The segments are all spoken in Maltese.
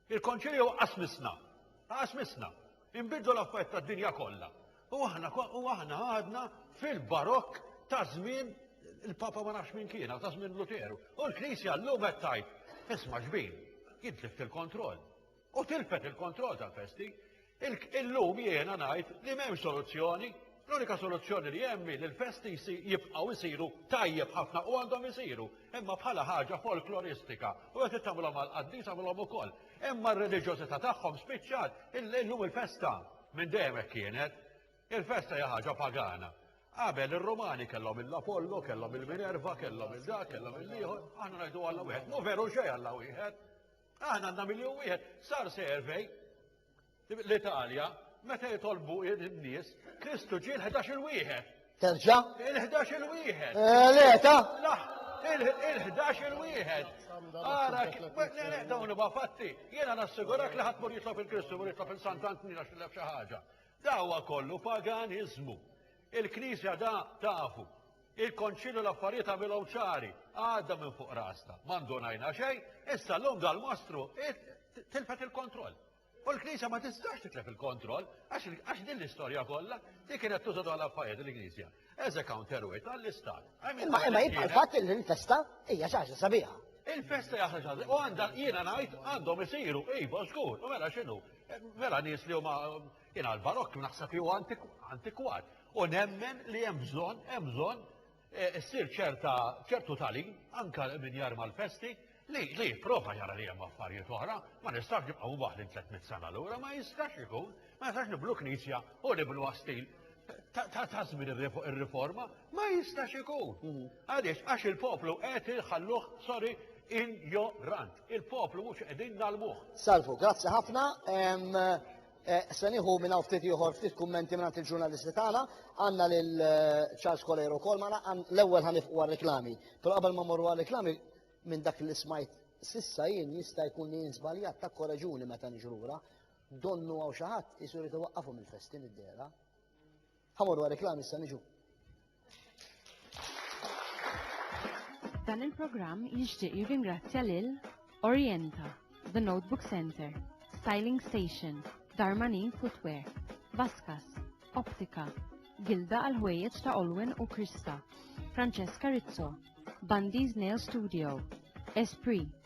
Il-Konċilju qasmisna, qasmisna, inbidlu l-affarijiet tad-dinja kollha. U aħna u aħna għadna fil-barokk ta' żmien il-Papa ma nafx minn kiena, ta' żmien Luteru. U l-Knisja llum qed tajt, isma' xbin, jidlif il-kontroll. U tilfet il-kontroll tal-festi, Illum jiena ngħid li m'hemmx soluzzjoni, l-unika soluzzjoni li hemm li l-festi jibqgħu jsiru tajjeb ħafna u għandhom isiru, imma bħala ħaġa folkloristika u jekk tagħmilhom għall-qaddis għamilhom ukoll. Imma r-reliġjożità tagħhom spiċċat illum il-festa minn dejjem hekk kienet. Il-festa hija ħaġa pagana. Qabel ir-Rumani kellhom il-Apollo, kellhom il-Minerva, kellhom il-dak, kellhom il-ieħor, aħna ngħidu Alla wieħed. Mu veru xejn Alla wieħed. Aħna għandna miljun wieħed, sar survey l-Italja meta jitolbu n-nies, Kristu ġie l-11 il-wieħed. Terġa? Il-11 il-wieħed. Eh, le, ta? Il-11 il-wieħed. Ara, dawn ma fatti, jena nassigurak li ħadd mur jitlob il-Kristu, mur jitlob il-Santantin għax xi ħaġa. Dawa kollu paganizmu. Il-Knisja da tafu. Il-Konċilju l-affarijiet għamilhom ċari, għadda minn fuq rasta, ma ndunajna xejn, issa l-lum dal-mostru tilfet il-kontroll. U l-Knisja ma tistax titlef il-kontroll, għax din l-istorja kollha li kienet tuża dwar l-affarijiet il-Knisja. As a counterweight għall-Istat. Imma imma jibqa' l-fatt li l-festa hija xi ħaġa sabiħa. Il-festa hija ħaġa u għandha jiena ngħid għandhom isiru iva żgur, u mela x'inhu? Mela nies li huma Jien għall-barokk naħseb li huwa antikwat u nemmen li hemm bżonn, hemm bżonn eh, issir ċerta ċertu talim anke minn jar mal-festi li li prova jara li hemm affarijiet oħra, ma nistax nibqgħu waħli 300 sena lura, ma jistax ikun, ma jistax niblu knisja u niblu għastil ta' żmien ir-riforma, ma jistax ikun. Mm. Għaliex għax il-poplu qed iħalluh sorry injorant. Il-poplu mhux qegħdin nalmuh. Salvu, grazzi ħafna. Eh, se nieħu minn hawn ftit ieħor ftit kummenti minn il-ġurnalisti tagħna, għandna lil eh, Charles Colero wkoll magħna l-ewwel ħanifqu għar-reklami. Però qabel ma morru għar-reklami minn dak li smajt sissa jien jista' jkun li jien żbaljat ta' koraġuni meta niġrura, donnu għaw xi ħadd isur jitwaqqafu mill-festin id-dera. Ħamorru għal reklam issa niġu. Dan il-programm jixtieq jirringrazzja lil Orienta, The Notebook Center, Styling Station, Darmanin Footwear, Vaskas, Optika, Gilda għal ħwejjeġ ta' Olwen u Krista, Francesca Rizzo, Bundy's Nail Studio, Esprit,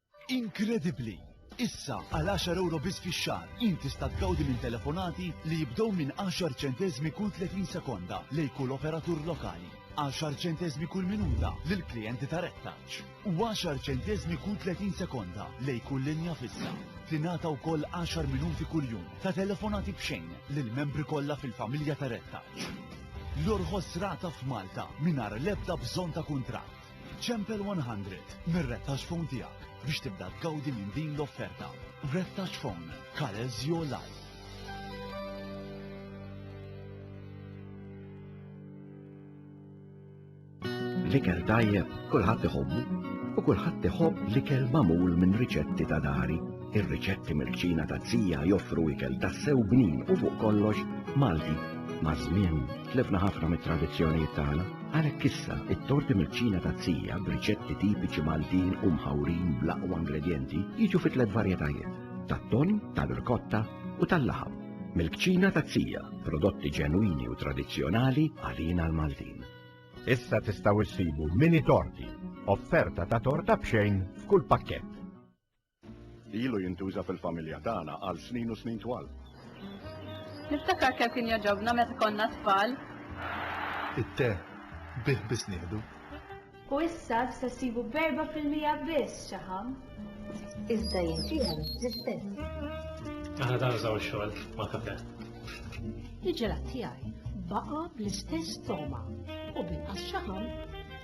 Inkredibbli! Issa, għal għaxar ewro biss fix-xahar, int tista' tgawdi minn telefonati li jibdew minn għaxar ċenteżmi kull 30 sekonda lejn kull operatur lokali, għaxar ċenteżmi kull minuta lil klijenti ta' Red Touch, u għaxar ċenteżmi kull 30 sekonda lejn kull linja fissa. Tingħata wkoll għaxar minuti kuljum ta' telefonati b'xejn lill-membri kollha fil-familja ta' Red Touch. L-orħos rata f'Malta mingħajr l-ebda bżonn ta' kuntratt. Ċempel 100 mir-rettax phone tiegħek biex tibda tgawdi minn din l-offerta. Rettax phone, colors your life. L-ikel tajjeb kulħadd iħobbu u kulħadd iħobb l-ikel magħmul minn riċetti ta' dari. Ir-riċetti mill-kċina ta' zija joffru ikel tassew bnin u fuq kollox Malti maż-żmien Tlifna ħafna mit-tradizzjonijiet tagħna, għalhekk issa t-torti mill-kċina taz-zija b'riċetti tipiċi Maltin u mħawrin bl-aqwa ingredjenti jiġu fi tliet varjetajiet, tat-tonn, tar-rkotta u tal-laħam. Mill-kċina taz-zija, prodotti ġenwini u tradizzjonali għalina l-Maltin. Issa tistgħu ssibu mini torti, offerta ta' torta b'xejn f'kull pakkett. Ilu jintuża fil-familja tagħna għal snin u snin twal. Niftakar kemm kien jogħġobna meta konna tfal. It-te bih biss nieħdu. U issa tista' ssibu b'erba' fil-mija biss xaħam. Iżda jinġieħel l-istess. Aħna dan użaw xogħol ma' kafe. Il-ġelat tiegħi baqa' bl-istess toma u binqas xaħam.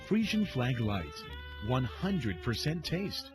Frisian Flag Light, 100% taste.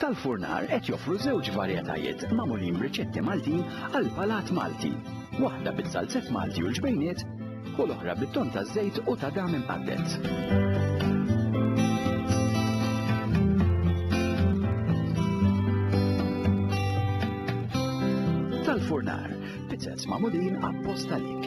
Tal-furnar qed joffru żewġ varjetajiet magħmulin b'riċetti Maltin għall-palat Malti, waħda biż-żalzett Malti u l-ġbejniet u l-oħra bit-tonn taż-żejt u ta' dam imqadded. tal-furnar, pizzez magħmulin apposta lik.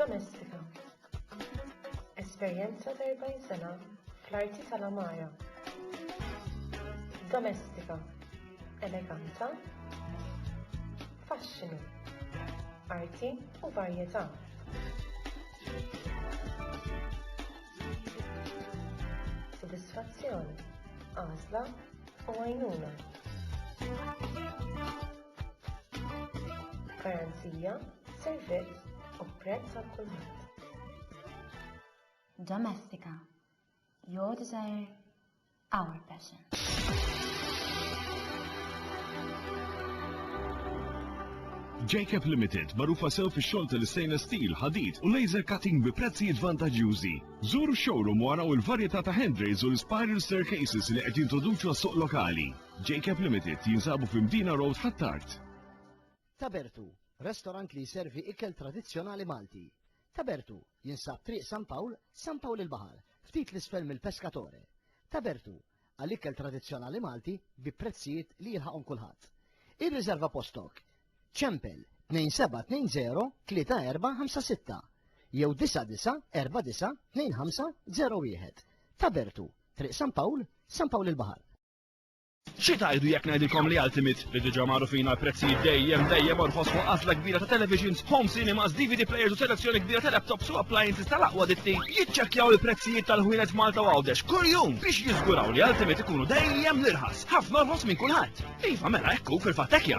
Domestika. Esperjenza ta' 40 sena fl-arti tal-għamara. Domestika. Eleganza. Faxxinu. Arti u varjetà. Sodisfazzjon, għażla u għajnuna. Garanzija, servizz u prezz għal kulħadd. Domestika, your desire, our passion. JCAP Limited, marufa sew fi xogħol tal-stainless steel, ħadid u laser cutting bi prezzijiet vantaġġjużi. Żuru showroom wara u l-varjetà ta' handrails u l-spiral staircases li qed jintroduċu għas-suq lokali. Jacob Limited jinsabu fi Mdina Road Ħ'Attard. Tabertu, restorant li jservi ikel tradizzjonali Malti. Tabertu jinsab Triq San Pawl, San Pawl il-Baħar, ftit l-isfel mill-Pescatore. Tabertu, għal ikel tradizzjonali Malti bi prezzijiet li jilħaqhom kulħadd. Irriżerva postok. Ċempel 2720-3456 jew 9949-2501. Tabertu, Triq San Pawl, San Pawl il-Baħar. Xi tgħidu jekk ngħidilkom li Ultimate, li diġà magħrufin għal prezzijiet dejjem, dejjem orħos fuq għażla kbira ta' televisions, home cinemas, DVD players u selezzjoni kbira ta' laptops u appliances tal-aqwa ditti, jiċċekkjaw il-prezzijiet tal-ħwienet f'Malta u Għawdex kull jum biex jiżguraw li Ultimate ikunu dejjem l-irħas, ħafna orħos minn kulħadd! Iva, mela hekk hu, fil-fatt hekk jagħmel!